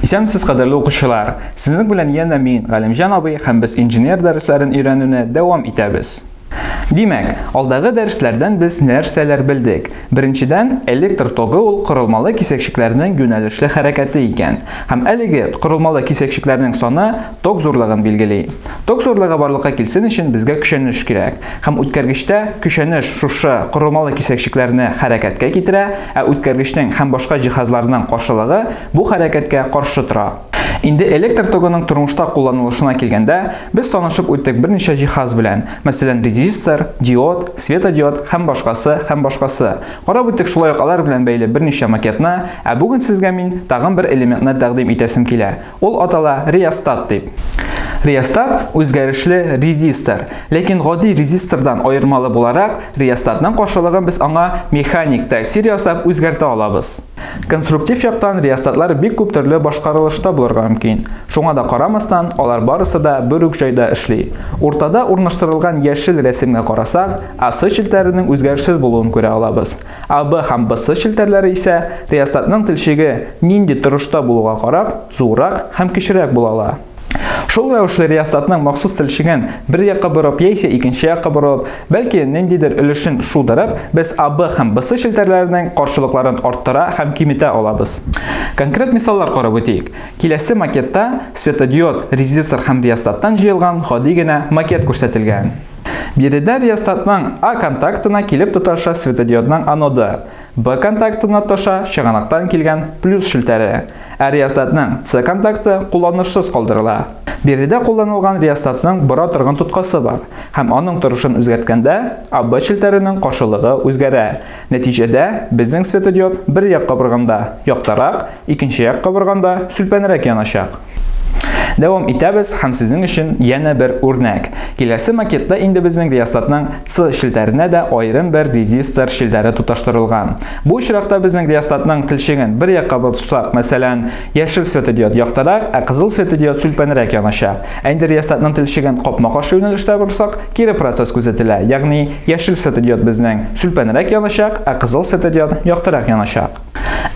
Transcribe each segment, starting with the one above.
Исәнмесез, кадерле укучылар! Сезнең белән янә мин, Галимҗан абый, һәм без инженер дәресләрен өйрәнүне дәвам итәбез. Димәк, алдагы дәресләрдән без нәрсәләр белдек? Беренчедән, электр тогы ул корылмалы кисәкчекләрнең юнәлешле хәрәкәте икән. Һәм әлеге корылмалы кисәкчекләрнең саны ток зурлыгын билгели. Ток зурлыгы барлыкка килсен өчен безгә көчәнеш кирәк. Һәм үткәргечтә көчәнеш шушы корылмалы кисәкчекләрне хәрәкәткә китерә, ә үткәргечнең һәм башка җиһазларның каршылыгы бу хәрәкәткә каршы тора. Инде электр тогының тормышта кулланылышына килгәндә, Без танышып үттек берничә җиһаз белән, мәсәлән, резистор, диод, светодиод һәм башкасы һәм башкасы. Карап үттек шулай ук алар белән бәйле берничә макетны, ә бүген сезгә мин тагын бер элементны тәкъдим итәсем килә. Ул атала реостат дип. Реостат үзгәрешле резистор, ләкин гади резистордан аермалы буларак, реостатның каршылыгын без аңа механик тәэсир ясап үзгәртә алабыз. Конструктив яктан реостатлар бик күп төрле башкарылышта булырга мөмкин. Шуңа да карамастан, алар барысы да бер үк җайда эшли. Уртада урнаштырылган яшел рәсемгә карасак, AC челтәренең үзгәрешсез булуын күрә алабыз. AB һәм BC челтәрләре исә реостатның телчеге нинди торышта булуга карап, зуррак һәм кечерәк була ала. Шул рәвешле риясатның махсус телчеген бер якка борып яисә икенче якка борып, бәлки ниндидер өлешен шудырып, без АБ һәм БС челтәрләренең каршылыкларын арттыра һәм киметә алабыз. Конкрет мисаллар карап үтик. Киләсе макетта светодиод, резистор һәм риясаттан җыелган гади генә макет күрсәтелгән. Биредә риясатның А контактына килеп тоташа светодиодның аноды. Б контакты Наташа чыганактан килгән плюс челтәре, ә реостатның С контакты кулланышсыз калдырыла. Биредә кулланылган реостатның бора торган тоткасы бар һәм аның торышын үзгәрткәндә АБ челтәренең каршылыгы үзгәрә. Нәтиҗәдә, безнең светодиод бер як кабырганда яктырак, Икенче як кабырганда сүлпәнрәк яначак. Дәвам итәбез һәм сезнең өчен янә бер үрнәк. Киләсе макетта инде безнең реостатның С челтәренә дә аерым бер резистор челтәре тоташтырылган. Бу очракта безнең реостатның телчеген бер якка борсак, мәсәлән, яшел светодиод яктырак, ә кызыл светодиод сүлпәнрәк яначак. Ә инде реостатның телчеген капма-каршы юнәлештә борсак, кире процесс күзәтелә, ягъни яшел светодиод безнең сүлпәнрәк яначак, ә кызыл светодиод яктырак яначак.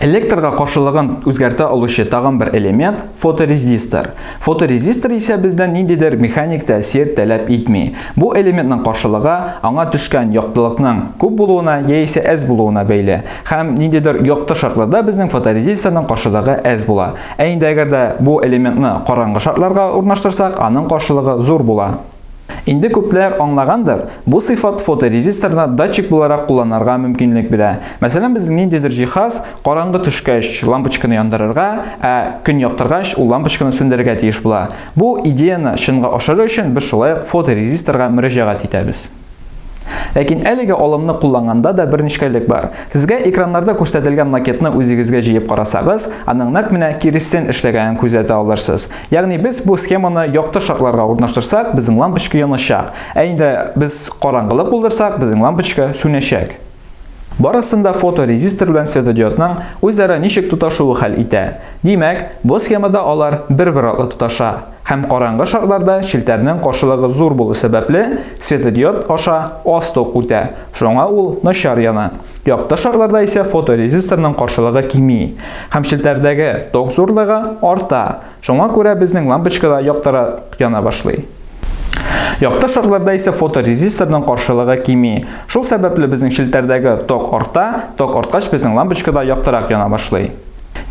Электрга каршылыгын үзгәртә алучы тагын бер элемент – фоторезистор. Фоторезистор исә бездән ниндидер механик тәэсир таләп итми. Бу элементның каршылыгы аңа төшкән яктылыкның күп булуына яисә әз булуына бәйле. Һәм ниндидер якты шартларда безнең фоторезисторның каршылыгы әз була. Ә инде әгәр дә бу элементны караңгы шартларга урнаштырсак, аның каршылыгы зур була. Инде күпләр аңлагандыр, бу сыйфат фоторезисторны датчик буларак кулланарга мөмкинлек бирә. Мәсәлән, безнең ниндидер җиһаз караңгы төшкәч лампочканы яндырырга, ә көн яктыргач ул лампочканы сүндерергә тиеш була. Бу идеяны чынга ашыру өчен без шулай ук фоторезисторга мөрәҗәгать итәбез. Ләкин әлеге алымны кулланганда да бер нечкәлек бар. Сезгә экраннарда күрсәтелгән макетны үзегезгә җыеп карасагыз, аның нәкъ менә киресен эшләгәнен күзәтә алырсыз. Ягъни без бу схеманы якты шартларга урнаштырсак, безнең лампочка яначак. Ә инде без караңгылык булдырсак, безнең лампочка сүнәчәк. Барысын да фоторезистор белән светодиодның үзара ничек тоташуы хәл итә. Димәк, бу схемада алар бер-бер артлы тоташа. Һәм караңгы шартларда челтәрнең каршылыгы зур булу сәбәпле, светодиод аша аз ток үтә, шуңа ул начар яна. Якты шарларда исә фоторезисторның каршылыгы кими һәм челтәрдәге ток зурлыгы арта, шуңа күрә безнең лампочка да яктырак яна башлый. Якты шарларда исә фоторезисторның каршылыгы кими, шул сәбәпле безнең челтәрдәге ток арта, ток арткач безнең лампочка да яктырак яна башлый.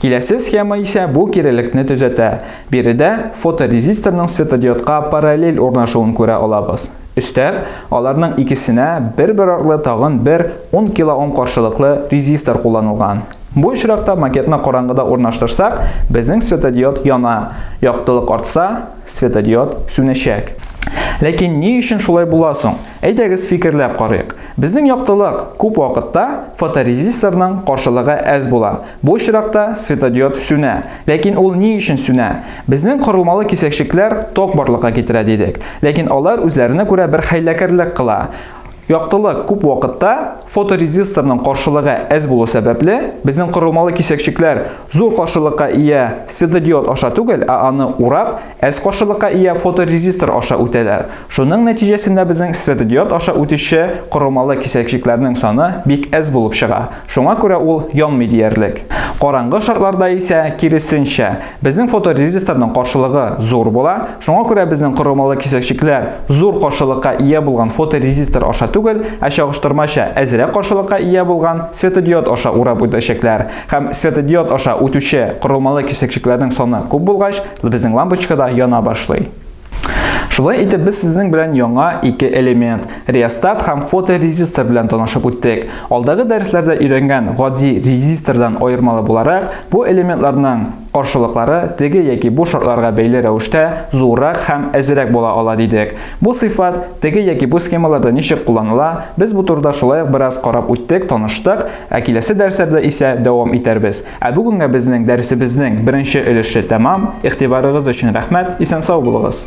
Киләсе схема исә бу кирелекне төзәтә. Биредә фоторезисторның светодиодка параллель урнашуын күрә алабыз. Өстәп, аларның икесенә бер-бер артлы тагын бер 10 килоом каршылыклы резистор кулланылган. Бу очракта макетны караңгыда урнаштырсак, безнең светодиод яна, яктылык артса, светодиод сүнәчәк. Ләкин ни өчен шулай була соң? Әйдәгез фикерләп карыйк. Безнең яктылык күп вакытта фоторезисторның каршылыгы әз була, Бу очракта светодиод сүнә. Ләкин ул ни өчен сүнә? Безнең корылмалы кисәкчекләр ток барлыкка китерә дидек. Ләкин алар үзләренә күрә бер хәйләкәрлек кыла. Яктылык күп вакытта фоторезисторның каршылыгы әз булу сәбәпле, безнең корылмалы кисәкчекләр зур каршылыкка ия светодиод аша түгел, ә аны урап, Әз каршылыкка ия фоторезистор аша үтәләр. Шуның нәтиҗәсендә безнең светодиод аша үтүче корылмалы кисәкчекләрнең саны бик әз булып чыга, шуңа күрә ул янмый диярлек. Караңгы шартларда исә, киресенчә, безнең фоторезисторның каршылыгы зур була, шуңа күрә безнең корылмалы кисәкчекләр зур каршылыкка ия булган фоторезистор аша түгел, ә чагыштырмача әзрәк каршылыкка ия булган светодиод аша урап үтәчәкләр. Һәм светодиод аша үтүче корылмалы кисәкчекләрнең саны күп булгач, Безнең лампочка да яна башлый. Шулай итеп без сезнең белән яңа ике элемент, реостат һәм фоторезистор белән танышып үттек. Алдагы дәресләрдә өйрәнгән гади резистордан аермалы буларак, бу элементларның каршылыклары теге яки бу шартларга бәйле рәвештә зуррак һәм әзерәк була ала дидек. Бу сыйфат теге яки бу схемаларда ничек кулланыла, без бу турыда шулай ук бераз карап үттек, таныштык, ә киләсе дәресләрдә исә дәвам итәрбез. Ә бүгенгә безнең дәресебезнең беренче өлеше тәмам. Игътибарыгыз өчен рәхмәт. Исән сау булыгыз.